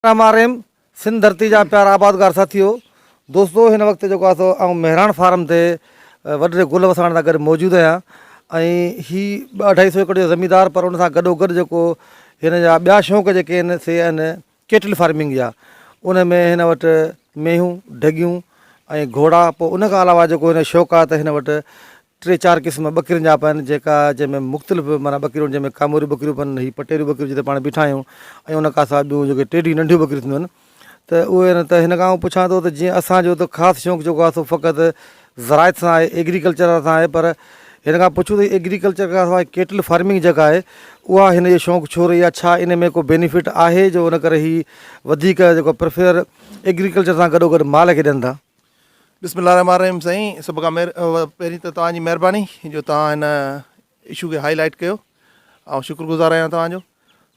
Ram R M Sindh ڌرتي جا پيارا آبادگار ساٿيو دوستو هن وقت جيڪو آهي سو آئون مهراڻ فارم تي وڏڙي گل وساڻ سان گڏ موجود آهيان ۽ هي ٻه اڍائي سو ايڪڙ جو زميندار پر ان سان گڏو گڏ جيڪو هن جا ٻيا شوق جيڪي آهن سي آهن ڪيٽل فارمنگ جا ان ۾ هن وٽ مينهون ڍڳيون ۽ گهوڙا پوء ان کان علاوه جيڪو هن جو شوق آهي ته هن وٽ ٽي چار قسم ٻڪرين جا پيا آهن جيڪا جنهن ۾ مختلف معنيٰ ٻڪريون جنهن ۾ ڪاموريون ٻڪريون پيا آهن هي پٽيريون ٻڪريون جتي پاڻ بيٺا آهيون ۽ ان کان سواء ٻيون جيڪي ٽيڊيون ننڍيون ٻڪريون ٿينديون آهن ته اهي آهن ته هن کان آئون پڇان ٿو ته جيئن اسانجو ته خاص شوق جيڪو آهي سو فقط زراعت سان آهي ايگريڪلچر سان آهي پر هن کان پڇون ته ايگريڪلچر کان سواء ڪيٽل فارمنگ جيڪا آهي اها هن جو شوق ڇو رهي آهي ڇا ان ۾ ڪو بينيفٽ آهي جو ان ڪري هي وڌيڪ جيڪو پريفر ايگريڪلچر سان گڏو گڏ مال کي ڏين ٿا بسم الله الرحمٰن الرحيم سائين سڀ کان پهرين ته توهان جي مهرباني جو توهان هن اشو کي هائي لائٽ ڪيو آئون شڪر گذار آهيان توهان جو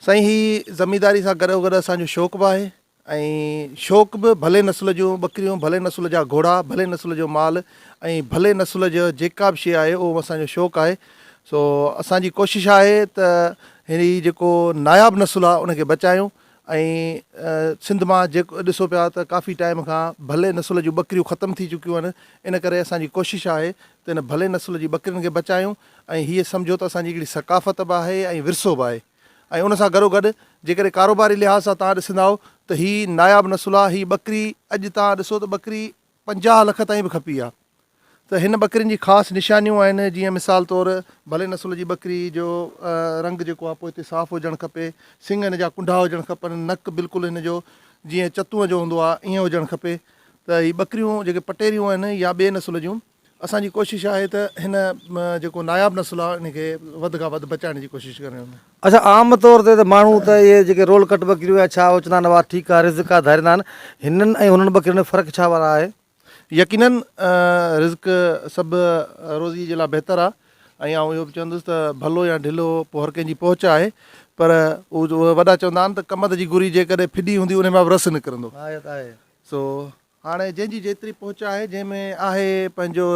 سائين هي زمينداري سان گڏو گڏ اسان جو شوق به آهي ۽ شوق به ڀلي نسل جون ٻڪريون ڀلي نسل جا گهوڙا ڀلي نسل جو مال ۽ ڀلي نسل جو جيڪا به شي آهي اهو اسان جو شوق آهي سو اسان جي ڪوشش آهي ته هي جيڪو ناياب نسل آهي ان کي بچايون ۽ سنڌ مان جيڪو ڏسو پيا ته ڪافي ٽائيم کان ڀلي نسل جون ٻڪريون ختم ٿي چڪيون آهن ان ڪري اسان جي ڪوشش آهي ته ان ڀلي نسل جي ٻڪرين کي بچايون ۽ هيء سمجهو ته اسان جي هڪڙي ثقافت به آهي ۽ ورثو به آهي ۽ ان سان گڏو گڏ جيڪڏهن ڪاروباري لحاظ سان توهان ڏسندائو ته هي ناياب نسل آهي هي ٻڪري اڄ توهان ڏسو ته ٻڪري پنجاهه لک تائين به کپي ها ته هن ٻڪرين جي خاص نشانيون آهن جيئن مثال طور ڀلي نسل جي ٻڪري جو رنگ جيڪو آهي پوئتي صاف هجڻ کپي سنگ هن جا ڪنڊا هجڻ کپن نڪ بلڪل هن جو جيئن چتونء جو هوندو آهي ائين هجڻ کپي ته هي ٻڪريون جيڪي پٽيريون آهن يا ٻي نسل جون اسان جي ڪوشش آهي ته هن جيڪو ناياب نسل آهي ان کي وڌ کان وڌ بچائڻ جي ڪوشش ڪريون. اچا عام طور تي ته ماڻهو ته اهي جيڪي رول ڪٽ ٻڪريون يا ڇا اوچنا نواء ٺيڪا، رزقا، ڌاريندا آهن، هنن ۽ هنن ٻڪرين ۾ فرق ڇا وارا آهي؟ يقيناً رزق سڀ روزي جي لاء بهتر آهي ۽ آئون اهو به چوندس ته ڀلو يا ڍلو پوء هر ڪنهن جي پهچ آهي پر اهو وڏا چوندا آهن ته ڪمند جي گري جيڪڏهن ڦڏي هوندي انهي مان به رس نڪرندو سو هاڻي جنهن جي جيتري پهچ آهي، جنهن ۾ آهي پنهنجو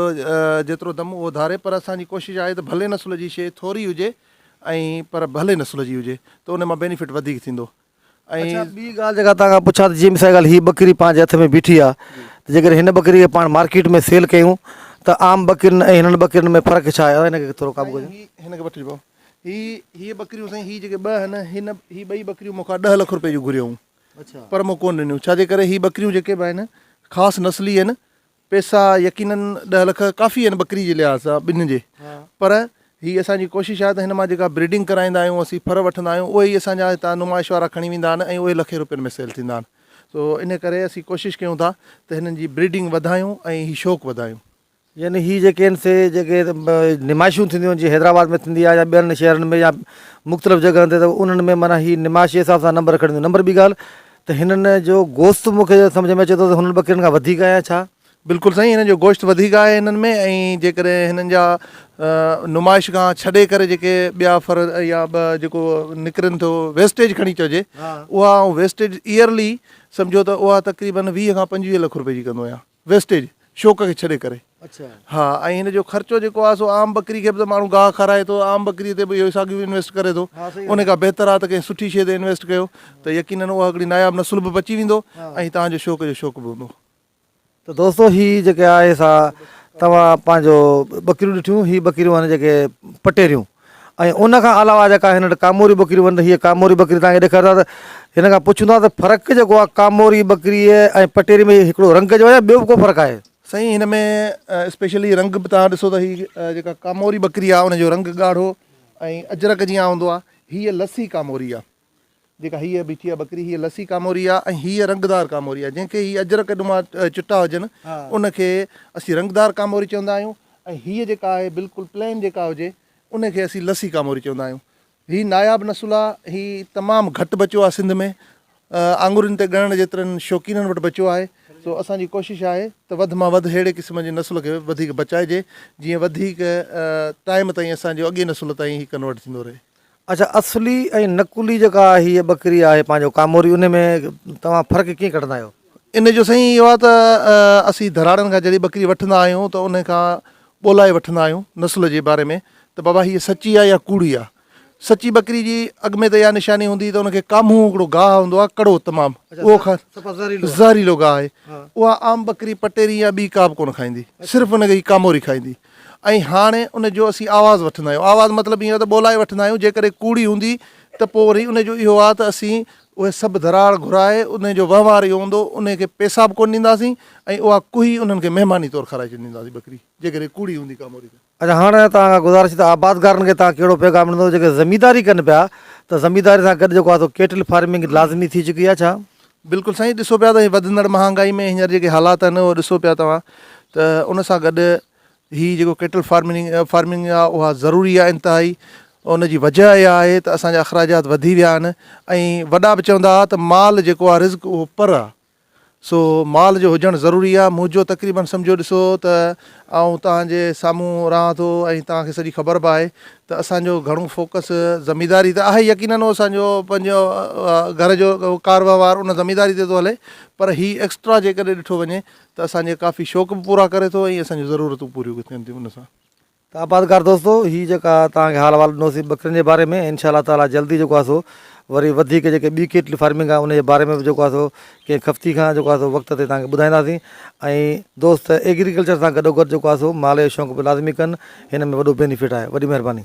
جيترو دم اهو ڌاري پر اسان جي ڪوشش آهي ته ڀلي نسل جي شيء ٿوري هجي ۽ پر ڀلي نسل جي هجي ته ان مان بينيفٽ وڌيڪ ٿيندو ۽. اڇا ٻي ڳالهه جيڪا توهان کان پڇان ته جيئن مثال جي ڳالهه هي ٻڪري پنهنجي هٿ ۾ بيٺي آ ته جيڪڏهن هن ٻڪري کي پاڻ مارڪيٽ ۾ سيل ڪيون ته عام ٻڪرين ۽ هنن ٻڪرين ۾ فرق ڇا آهي ان کي ٿورو قابو ڪجو. سائين هي هن کي وٺجي پئو هي هي ٻڪريون سائين هي جيڪي ٻه آهن هن هي ٻئي ٻڪريون مون کان ڏهه لک روپئي جون گهريائون پر مون ڪونه ڏنيون ڇاجي ڪري هي ٻڪريون جيڪي به آهن خاص نسلي آهن پيسا يقينن ڏهه لک ڪافي آهن ٻڪري جي لحاظ سان ٻن جي پر هي اسان جي ڪوشش آهي ته هن مان جيڪا بريڊنگ ڪرائيندا آهيون اسين ڦر وٺندا آهيون اهي ئي اسان جا هتان نمائش وارا کڻي ويندا آهن ۽ اهي لکين روپين ۾ سيل ٿيندا آهن سو ان ڪري اسين ڪوشش ڪيون ٿا ته هنن جي بريڊنگ وڌايون ۽ هي شوق وڌايون يعني هي جيڪي آهن سي جيڪي نمائشون ٿينديون آهن جي حيدرآباد ۾ ٿيندي آهي يا ٻين شهرن ۾ يا مختلف جڳهن تي ته انهن ۾ معنيٰ هي نمائش جي حساب سان نمبر کڻنديون نمبر ٻي ڳالهه ته هنن جو گوشت مونکي سمجهه ۾ اچي ٿو ته هنن ٻڪرين کان وڌيڪ آهي يا ڇا؟ بلڪل سائين هنن جو گوشت وڌيڪ آهي هنن ۾ ۽ جيڪڏهن هنن جا نمائش کان ڇڏي ڪري جيڪي ٻيا فر يا ٻه جيڪو نڪرن ٿو ويسٽيج کڻي چئجي اها ويسٽيج ايئرلي سمجهو ته اها تقريبن ويهه کان پنجويهه لک روپئي جي ڪندو آهيان ويسٽيج، شوق کي ڇڏي ڪري. اڇا. ها ۽ هن جو خرچو جيڪو آهي سو عام ٻڪري کي به ته ماڻهو گاهه کارائي ٿو عام ٻڪري تي به اهو ساڳيو انويسٽ ڪري ٿو ان کان بهتر آهي ته ڪنهن سٺي شيء تي انويسٽ ڪيو ته يقينن اها هڪڙي ناياب نسل به بچي ويندو ۽ توهان جو شوق جو شوق به هوندو. ته دوستو هي جيڪي آهي سا توهان پنهنجو ٻڪريون ڏٺيون هي ٻڪريون آهن جيڪي پٽيريون. ۽ ان کان علاوه جيڪا هن وٽ ڪاموري ٻڪريون آهن ته هيء ڪاموري ٻڪري توهان کي ڏيکاريو ٿا ته هن کان پڇون ٿا ته فرق جيڪو آهي ڪاموري ٻڪريء ۽ پٽيري ۾ هڪڙو رنگ جو آهي يا ٻيو به ڪو فرق آهي؟ سائين هن ۾ اسپيشلي رنگ به توهان ڏسو ته هي جيڪا ڪاموري ٻڪري آهي ان جو رنگ ڳاڙهو ۽ اجرڪ جيان هوندو آهي هيء لسي ڪاموري آهي جيڪا هيء بيٺي آهي ٻڪري، هيء لسي ڪاموري آهي ۽ هيء رنگدار ڪاموري آهي، جنهن کي هي اجرڪ نما چٽا هجن، ان کي اسين رنگدار ڪاموري چوندا آهيون ۽ هيء جيڪا آهي بلڪل پلين جيڪا هجي، ان کي اسين لسي ڪاموري چوندا آهيون. هي ناياب نسل آهي. هي تمام گهٽ بچيو آهي سنڌ ۾. آڱرين تي ڳڻڻ جيترن شوقينن وٽ بچيو آهي، سو اسان جي ڪوشش آهي ته وڌ مان وڌ ههڙي قسم جي نسل کي وڌيڪ بچائجي، جيئن وڌيڪ ٽائيم تائين اسان جو اڳئين نسل تائين هي ڪنورٽ ٿيندو رهي. اڇا اصلي ۽ نقلي جيڪا هي ٻڪري آهي پنهنجو ڪاموري ان ۾ توهان فرق ڪيئن ڪڍندا آهيو. ان جو سائين اهو آهي ته اسين ڌراڙن کان جڏهن ٻڪري وٺندا آهيون ته ان کان ڳولائي وٺندا آهيون نسل جي باري ۾ ته بابا هيء سچي آهي يا ڪوڙي آهي سچي ٻڪري جي اڳ ۾ ته اها نشاني هوندي ته ان کي ڪامهون هڪڙو گاهه هوندو آهي ڪڙو تمام اهو کان زهريلو گاهه آهي اها عام ٻڪري پٽيري يا ٻي ڪابه ڪونه کائيندي صرف ان کي ڪاموري کائيندي ۽ هاڻي ان جو اسين آواز وٺندا آهيون. آواز مطلب ايئن ته ٻولائي وٺندا آهيون، جيڪڏهن ڪوڙي هوندي ته پوء وري ان جو اهو آهي ته اسين اهي سڀ ڌراڙ گهرائي ان جو وهنوار اهو هوندو انهي کي پيسا به ڪونه ڏينداسين ۽ اها ڪوهي انهن کي مهماني طور کارائي ڇڏينداسين ٻڪري جيڪڏهن ڪوڙي هوندي ڪا موري ته. اچا هاڻي توهان کان گذارش ته آبادگارن کي توهان ڪهڙو پيغام ڏيندو جيڪي زمينداري ڪن پيا ته زمينداري سان گڏ جيڪو آهي سو ڪيٽل فارمنگ لازمي ٿي چڪي آهي ڇا؟ بلڪل سائين ڏسو پيا ته وڌندڙ مهانگائي ۾ هينئر جيڪي حالات آهن اهو ڏسو پيا توهان ته ان سان گڏ هي جيڪو ڪيٽل فارمنگ فارمنگ آهي اها ضروري آهي انتهائي ان جي وجه اها آهي ته اسان جا اخراجات وڌي ويا آهن ۽ وڏا به چوندا هئا ته مال جيڪو آهي رزق اهو پر آهي سو مال جو هجڻ ضروري آهي منهنجو تقريبن سمجهو ڏسو ته آئون توهان جي سامهون رهان ٿو ۽ توهان کي سڄي خبر به آهي ته اسان جو گهڻو فوڪس زمينداري ته آهي يقينن هو اسان جو پنهنجو گهر جو ڪار وهنوار ان زمينداري تي ٿو هلي پر هي ايڪسٽرا جيڪڏهن ڏٺو وڃي ته اسان جي ڪافي شوق به پورا ڪري ٿو ۽ اسان جون ضرورتون پوريون به ٿين ٿيون ان سان. ته آبادگار دوستو هي جيڪا توهان کي حال احوال ڏنوسي ٻڪرين جي باري ۾ انشاء الله تعالي جلدي جيڪو آهي سو وري وڌيڪ جيڪي ٻي ڪيٽل فارمنگ آهي ان جي باري ۾ به جيڪو آهي سو ڪنهن خفتي کان جيڪو آهي سو وقت تي توهان کي ٻڌائينداسين ۽ دوست ايگريڪلچر سان گڏوگڏ جيڪو آهي سو مالهي جو شونق به لازمي ڪن هن ۾ وڏو بينيفٽ آهي وڏي مهرباني.